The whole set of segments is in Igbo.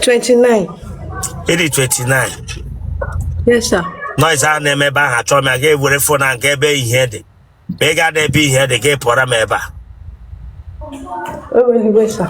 29. ịdị 29 Yes, sir. noise a na-eme ebe ahụ achọghị m ya gaa were fon a nke ebe ihe dị ma ị ga-ada ebe ihe dị gaa pụọra m ebe a Eweliwe, sir.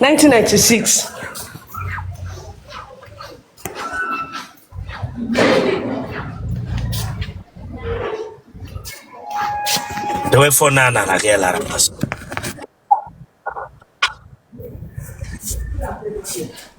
1996 dewe fon a nara gị lara mmasị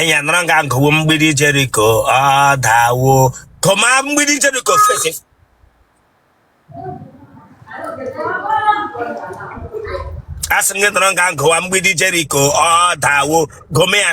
enya nọrọ nga nkọwo mgbidi jeriko ọ dawo kọma mgbidi jeriko face asị m gị nọrọ nga nkọwa mgbidi jeriko ọ dawo gome ya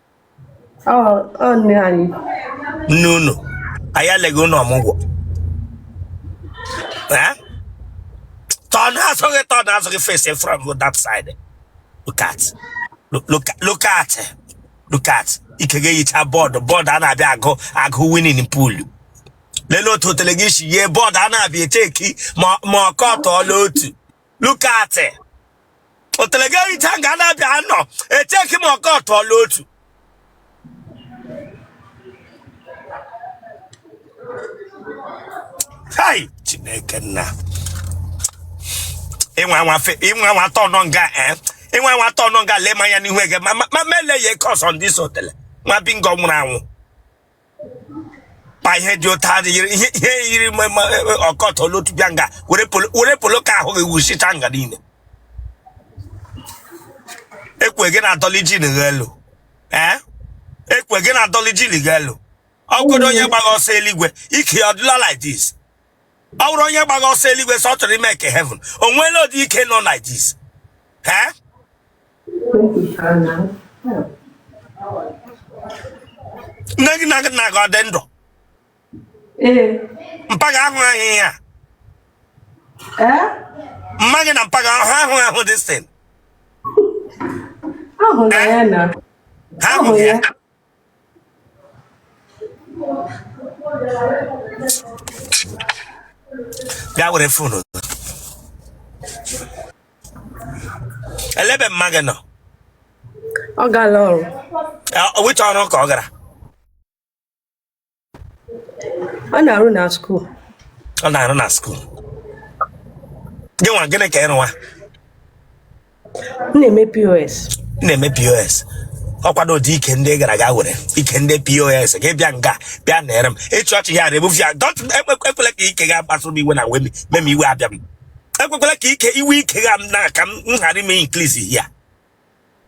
Ọ ọ nne anyị. nne unu anyị eleghị unu ọmụgwọ Eh? turn azụ gị turn azụ gị face from that side look at look, look, look at look at ike gị eyicha bọọdụ bọọdụ a na-abịa agụ agụ winning pool lelee otu otele gị si yie bọọdụ a na-abịa echeki ma ma ọ kọtọọla otu look at it. otele gị eyicha nga a na-abịa anọ echeki ma ọ kọtọọla otu hai chineke nna ịnwa nwa fe ịnwa nwata nọ nga eh ịnwa nwata nọ nga lee m anya n'ihu ege ma ma ma mele ya ike ọzọ ndị so otele nwa bingo nwụrụ anwụ kpa ihe dị otu a yiri ihe ihe yiri ma- ma- e- e- ọ kọtọọla otu bịa nga were polo- were polo ka ahụ gị wuchicha nga niile ekwe gị na-adọli jean gị elu ee ekwe gị na-adọli jean gị elu ọ bụrụ onye gbagha ọsọ eluigwe ike ya ọ dịla like this ọ bụrụ onye gbagha ọsọ eluigwe sị ọ chọrọ imeki heaven o nweela ụdị ike nọ like this ee nne gị na nna gị ọ dị ndụ mpa gị ahụ ahịhịa ya mma gị na mpa gị ahụ ahụ ahụ dị sin ha ahụ ya bịa were fonu ele ebe mma gị nọ ọ gala ọrụ Ọ- which ọrụ ka ọ gara ọ na-arụ na skuul ọ na-arụ na skuul gịnwa gịnị ka ị rụwa m na-eme pos Ị na-eme pos ọkwado ụdị ike ndị gara aga were ike ndị pos gị bịa nga bịa na-ere m ịchị ọchị ya rebufu ya dọt ekwekwela ka ike ga kpasụrụ m iwe na wemi mem iwe abịa m ekwekwela ka ike iwe ike ga m na ka m ghara ime inklizi ya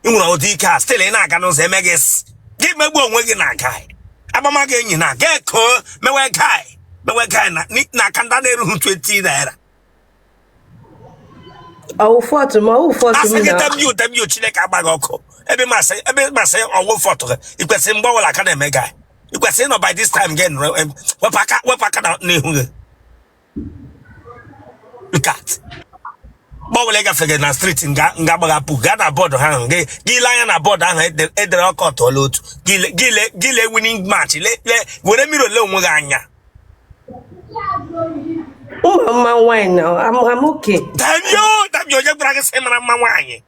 ị nwere ụdị ike a still ị na-aga n'ụzọ eme gị s- gị megbuo onwe gị na guy agbama gị enyi na ga eko mewe guy mewe guy na ni- na aka ndị a na-erughị 20 naira ọ wụ fault ma ọ wụ fault asị m gị na damn you damn you Chineke agba gị ọkụ ebe m asị ebe m asị ọ wụ fault gị i kwesịrị mgbe ọbụla ị ka na-eme guy i kwesịrị ịnọ by this time gị nụrụ em, wepụ aka wepụ aka na- n'ihu gị look at gbanwere gafere na street nga nga gbaghapụ gaa na board ha ahụ gị gị lee anya na board ahụ ede- edere ọkọ tụọla otu gị le- gị le- gị lee winning match le le were mirror lee onwe gị anya ị mara mma nwaanyị na amụke damn you damn you onye gwara gị sị ị mara mma nwaanyị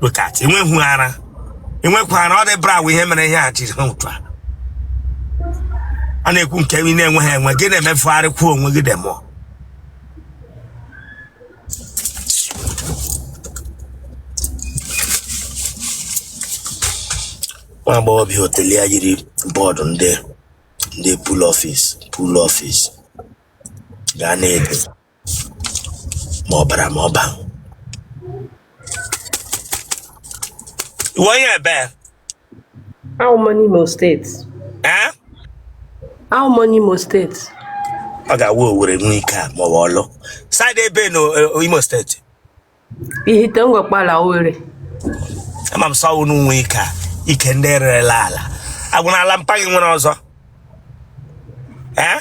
look at enweghị ara enweghị ara ọ dị bra ihe mere ihe a jiri ha otu a a na-ekwu nke ị na-enweghị enwe gị na-emefugharị kwuo onwe gị damn you nwa agbọghọ bịa hotel ya yiri board ndị ndị pool office pool office ga na-ede ma ọ bara ma ọ ba ị wụ onye ebe awụ m onye Imo State ee awụ m onye Imo State ọ ga-awụ Owere nwe ike a ma ọ bụ Ọlụ side ebe na eh, Imo State Ihite Ngor Okpala Owere ama m sị ọ wụ unu nwe ike a ike ndị rerela ala agwụna ala mpa gị nwere ọzọ Eh?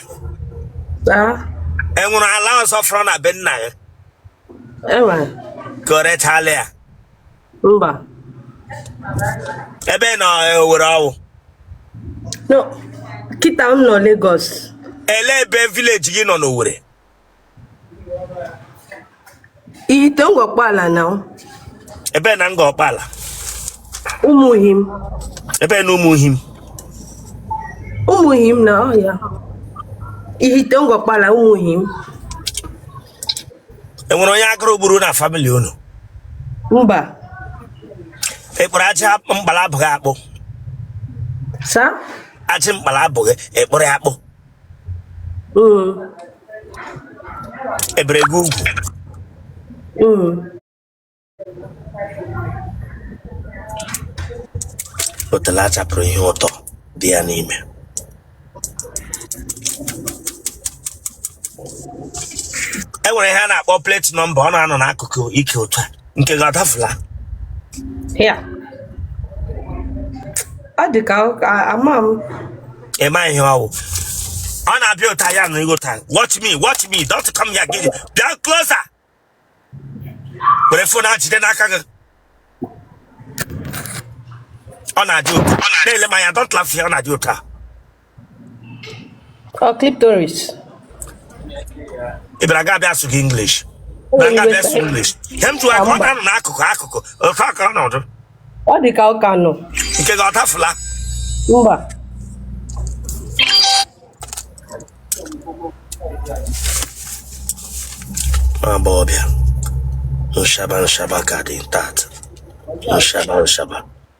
taa e nwere ala ọzọ fọrọ na be nna gị enwere ka o rechala ya mba ebe ị nọ Owere ọ wụ no kịta m nọ Lagos ele ebe village gị nọ n'Owere Ihite Ngor Okpala na ọ. Ebee na Ngor Okpala. Ụmụ him. Ebee na ụmụ him. Ụmụ him na ọ ya. Ihite Ngor Okpala ụmụ him. E nwere onye agụrụ gburu na family unu? Mba. Ekpere aja mkpala abụghị akpụ. Sa? Ajị mkpala abụghị ekpere akpụ. e bere gị ugwu otele a chapụrụ ihe ụtọ dị ya n'ime e nwere ihe a na-akpọ plate number ọ na-anọ n'akụkụ ike otu a nke gị adafula ya ọ dị ka ama m ị ma ihe ọ wụ ọ na-abịa otu a ya na ịghọta watch me watch me don't come here gị bịa closer were phone a jide n'aka gị ọ na-adị otu a na-ele m anya don't laugh ya ọ na-adị otu a Ọ clitoris. ị bịara ga abịa asụ gị English Ọ bịara ga abịa asụ English ihe m jụwa ka ọ na-anọ n'akụkụ akụkụ ofe aka ọ nọdụ Ọ dị ka ụka nọ. nke gị ọ tafụla Mba. agbọghọbịa nshaba nshaba ka dị tat nshaba nshaba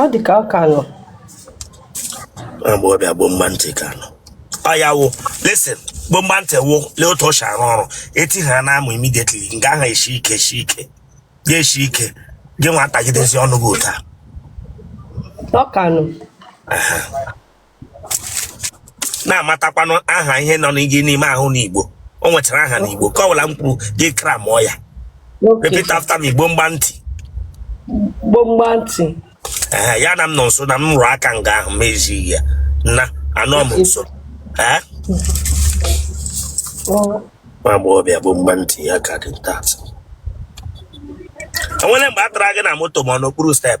ọ dị ka ọ ka nọ agbọghọbịa gboo mgba ntị ka nọ ọ ya wụ listen gboo mgba ntị wụ lee otu o si arụ ọrụ e ti ha n'amụ immediately nga ahụ esi ike esi ike ya esi ike gị nwa atagidezi ọnụ gị otu a ọ ka nọ na-amatakwanụ aha ihe nọ gị n'ime ahụ n'Igbo o nwechara aha n'Igbo nke ọbụla m kwuru gị akara mụ ya repeat after m Igbo mgba ntị Igbo mgba ntị ee ya na m nọ nso na m rụrụ aka nga ahụ ma ezighị ya na anọ m nso ee nwa agbọghọbịa bụ mgba ntị ya ka dị nta e nwere mgbe a tara gị na moto ma ọ n'okpuru step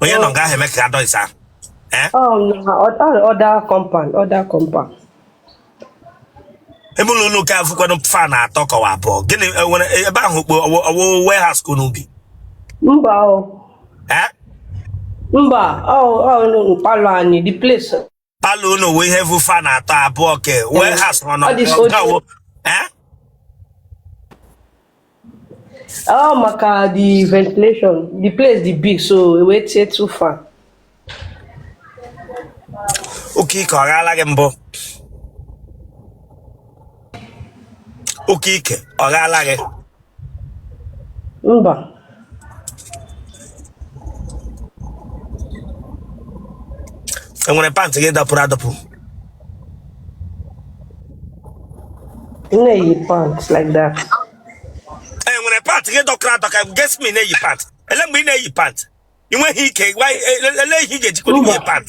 onye nọ nga ahụ eme ka ya dọịsa ahụ Eh? Oh, no, other, other compound, other compound. ebe ụlọ ụlọ ụka afụkwanụ fine atọ kọwa abụọ gịnị e nwere ebe ahụ ka ọ wụ warehouse ka unu bi Mba o, Eh? mba, ọ ọ nụ mkpalụ anyị, the place palọ unu nwee ihe vu fan atọ abụọ ke wee ha sọrọ na Ọ dị so ọgawo eh Oh, maka the ventilation. The place is big, so we wait here too far. oke ike ọ ghaala gị mbụ oke ike ọ ghaala gị Mba. e nwere pant gị dapụrụ adapụ Na-eyi pant like that. e nwere pant gị dọkara adọka guess me na-eyi pant ele mgbe ị na-eyi pant ị nweghị ike gwa- ele ele ihe ị ga-ejikwa Mba. ihe pant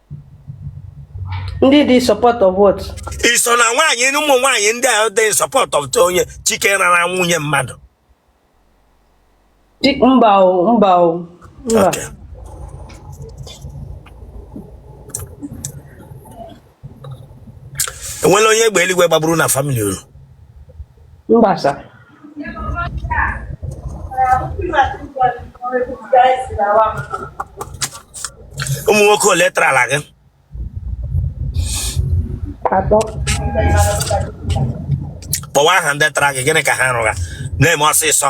ndị dị support of what ị so na nwaanyị n'ụmụ nwaanyị ndị a dị support of onye chike rara nwunye mmadụ Di- mba o mba o mba Okay. e nweela onye egbe eluigwe gbagburu na famili unu mba sa ụmụ nwoke ole tarala gị kpọwa aha ndị tara gị gịnị ka ha rụra na-eme ọsịsọ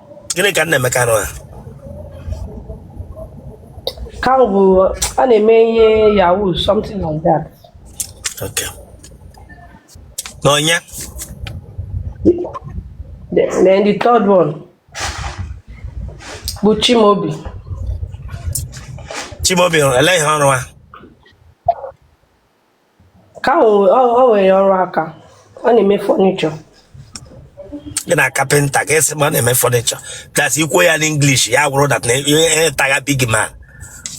gịnị ka nnaemeka rụrụ ka ọ bụ a na-eme ihe yahoo something like that okay n'ọnya then the third one bụ chimobi chimobi ele ihe ọ rụra ka o nwere ọrụ aka ọ na-eme fọnichọ gị na kapịnta ka e si ma ọ na-eme fọnichọ das i kwuo ya n'inglish ya wụrụ dat na ihe tagha big man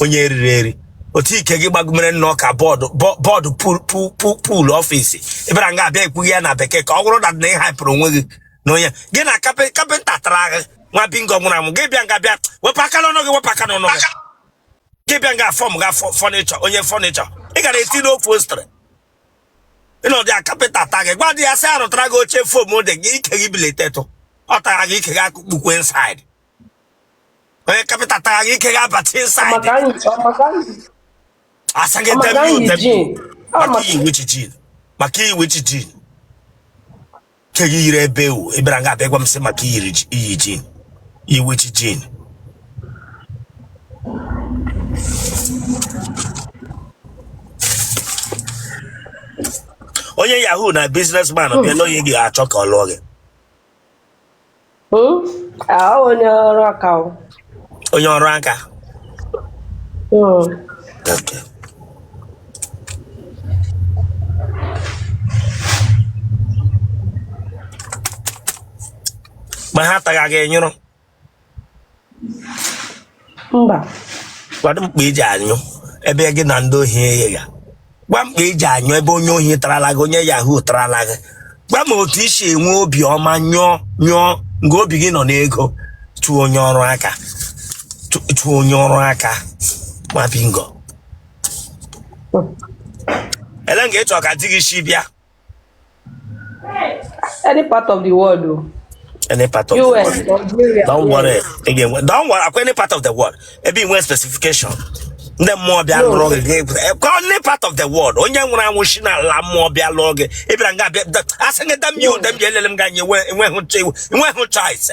onye eriri eri otu ike gị gbagomere nnọọ ka bọọdụ bọọdụ pul ọfisi ị bịara nga abịa ekwugha ya na bekee ka ọ wụrụ dat na ị haipụrụ onwe gị na onye gị na kapịnta tara agha nwa bingo nwụrụ anwụ gị bịa nga bịa wepụ aka n'ọnụ gị wepụ aka n'ọnụ gị gị bịa nga fọm ga fọnịchọ onye fọnịchọ ị gara eti n'upholstery ị nọdụ ya kapịnta ta gị gwa dị ya sị arụtara gị oche fom dị gị ike gị biletetụ ọ tara gị ike gị akụkpukwe insaid onye kapịnta tara gị ike gị abata insaid maka anyị ọ maka anyị asa gị ọ maka anyị debut jin ọ maka maka iwichi jin maka iwichi jin ka gị yiri ebe ewu ị bịara nga abịa gwa m sị maka iyiri ji- iyi jin iwechi jin onye yahoo na biznesman bịa n'onye ị ga-achọ ka ọ lụọ gị Hmm? Ah, onye ọrụ aka o. onye ọrụ aka Hmm. Okay. ma ha taga gị nyụrụ mba Gwadụ m kpa e ji anyụ ebe gị na ndị ohi eghe ya. Gwa m kpa e ji anyụ ebe onye ohi tarala gị, onye yahoo tarala gị. Gwa m otu i si enwe obi ọma nyụọ nyụọ nga obi gị nọ n'ego chụọ onye ọrụ aka chụ- chụọ onye ọrụ aka ma bingo. Ele nga ị chọrọ ka di gị si bịa Any part of the world, though. Any part of US, the world. Nigeria. Don't worry. Again, don't worry. Ọ kwa Any part of the world. Ebe i nwe specification. Ndị mmụọ bịa lụrụ gị gị pụta. Ka any part of the world. Onye nwụrụ anwụ si na ala mmụọ bịa lụrụ gị. Ị bịara nga bịa. Asị gị dam you dam you elele m ga nye enweghị choice.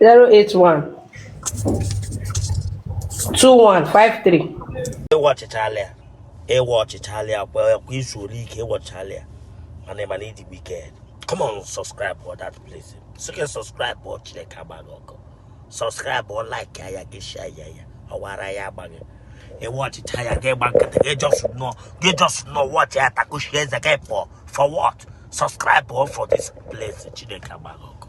081 2153 ị watchịchala ya ị watchịchala ya kwa kwa izu ole ike ị watchịchala ya mana ị ma na ị dị wicked come on subscribe for that place so gị subscribe before Chineke agba gị ọkụ subscribe for like ya gị share ya ya ọwara ya agba gị ị watchịcha ya gị gba nkịtị gị just nọ gị just nọ watch ya takushi eze gị for for what subscribe for for this place Chineke agba gị ọkụ